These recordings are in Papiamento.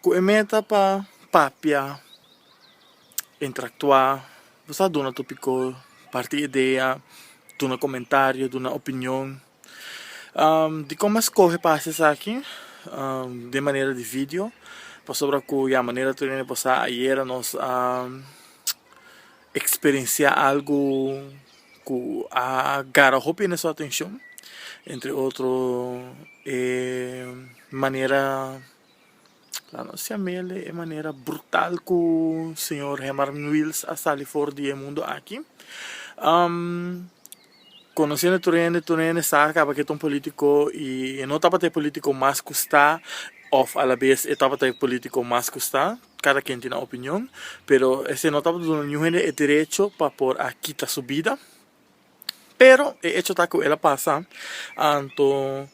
Cu e meta pa papia, interactua, bo sa duna topico, parti edea, duna comentario, duna opinion. Dicon bo a scoge pa haci esaki? Den manera di video, pasobra cu ya manera tur e basa ayera nos a experiencia algo cu a gara hopi ene su atencion, entre otro e manera. La nos si'a mele e manera brutal ku señor Herman Wills a sali for di e mundu aki. Konosende tur hende, tur hende sa kaba ke ta un politiko i e no tabata e politiko mas ku sta òf alabes e tabata e politiko mas ku sta, kada ken tin nan opinion, pero esei no tabata duna ningún hende e derecho pa por a kita su bida. Pero e hecho ta ku el a pasa, anto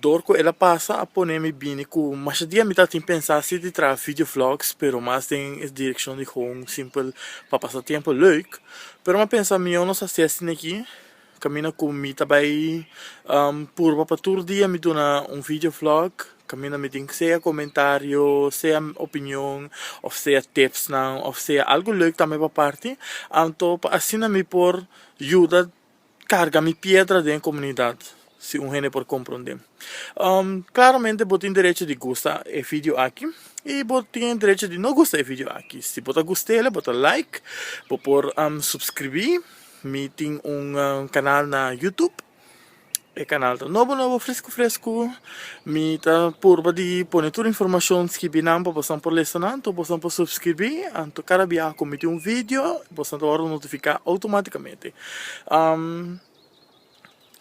dor ku el a pasa a pone mi bini ku masha dia mi tabata tin pensa si di traha video vlogs pero mas den e direkshon di home simpel pa pasa tempu leuk, pero mi a pensa mihó nos hasi asin aki kaminda ku mi ta bai purba pa tur dia mi duna un video vlog Caminda mi tin sea comentario, sea opinion, of sea tipsnan, of sea algo leuk tambe pa parti, anto pa asina mi por yuda carga mi piedra den e comunidad, si un hende por comprende. Claramente bo tin derecho di gusta e video aki, y bo tin e derecho di no gusta e video aki. Si bo ta gust'e, bo ta like, bo por subscribi, mi tin un canal na Youtube. E kanal ta nobo nobo fresku fresku mi ta purba di pone tur informashon skibi nan pa bosan por lesa nan anto bosan por supskirbi anto kada biaha ku mi tin un vidio bosan ta wòrdu notifiká outomatikamente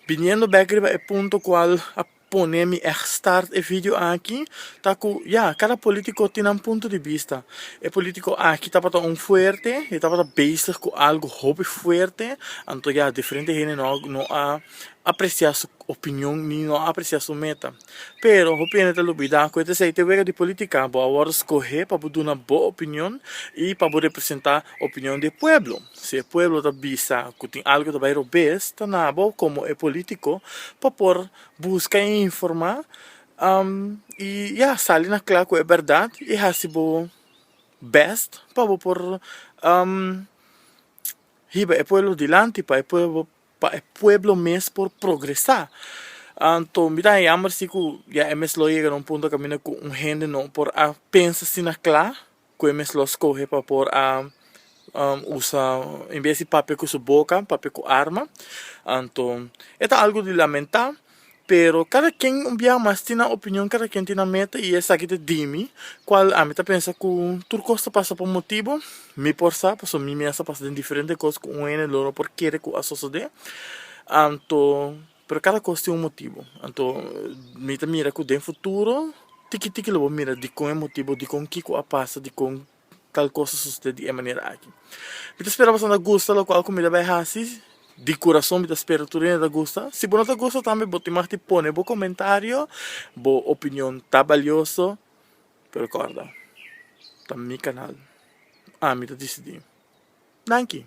biniendo bèk riba e punto kual a pone mi echt start e video aki ta cu ya cada politico tin nan punto di bista e politico aki tabata un fuerte e tabata bezig cu algo hopi fuerte anto ya diferente hende no no a aprecia su opinion ni no a aprecia su meta pero hopi hende ta lubida cu e ta esey ta e wega di politica bo a worde scohe pa bo duna bo opinion y pa bo representa opinion di e pueblo. Si e pueblo ta bisa cu tin algo ta bay robes, ta na bo como e politico pa por busca y informa y ya, sali na cla cu e berdad y haci bo best pa bo por hiba e pueblo dilanti, pa e pueblo mes por progresa. Anto mi ta a yamber si cu ya e mes lo a yega na un punto caminda cu un hende no por a pensa asina cla, Cu e mes lo scoge pa por a usa, en bes di papia cu su boca, papia cu arma. Anto, e ta algo di lamenta, pero cada quien un biaha mas tin nan opinion, cada quien tin nan meta y esaki ta dimi, cual ami ta pensa cu tur cos ta pasa pa un motibo, mi por sa, pasobra mi mes a pasa den diferente cos cu un hende lo no por kere cu a sosode. Anto. Pero kada kos tin un motibu. Anto mi ta mira ku den futuro tiki tiki lo bo mira dikon e motibu, dikon kiko a pasa, dikon tal kos a sosede di e manera aki. Mi ta spera boso a gusta lokual ku mi ta bai hasi, di kurason mi ta spera tur hende ta gusta. Si bo no ta gusta tambe bo tin maf di pone bo komentario, bo opinion ta balioso, pero kòrda ta mi kanal, ami ta disidi. Danki.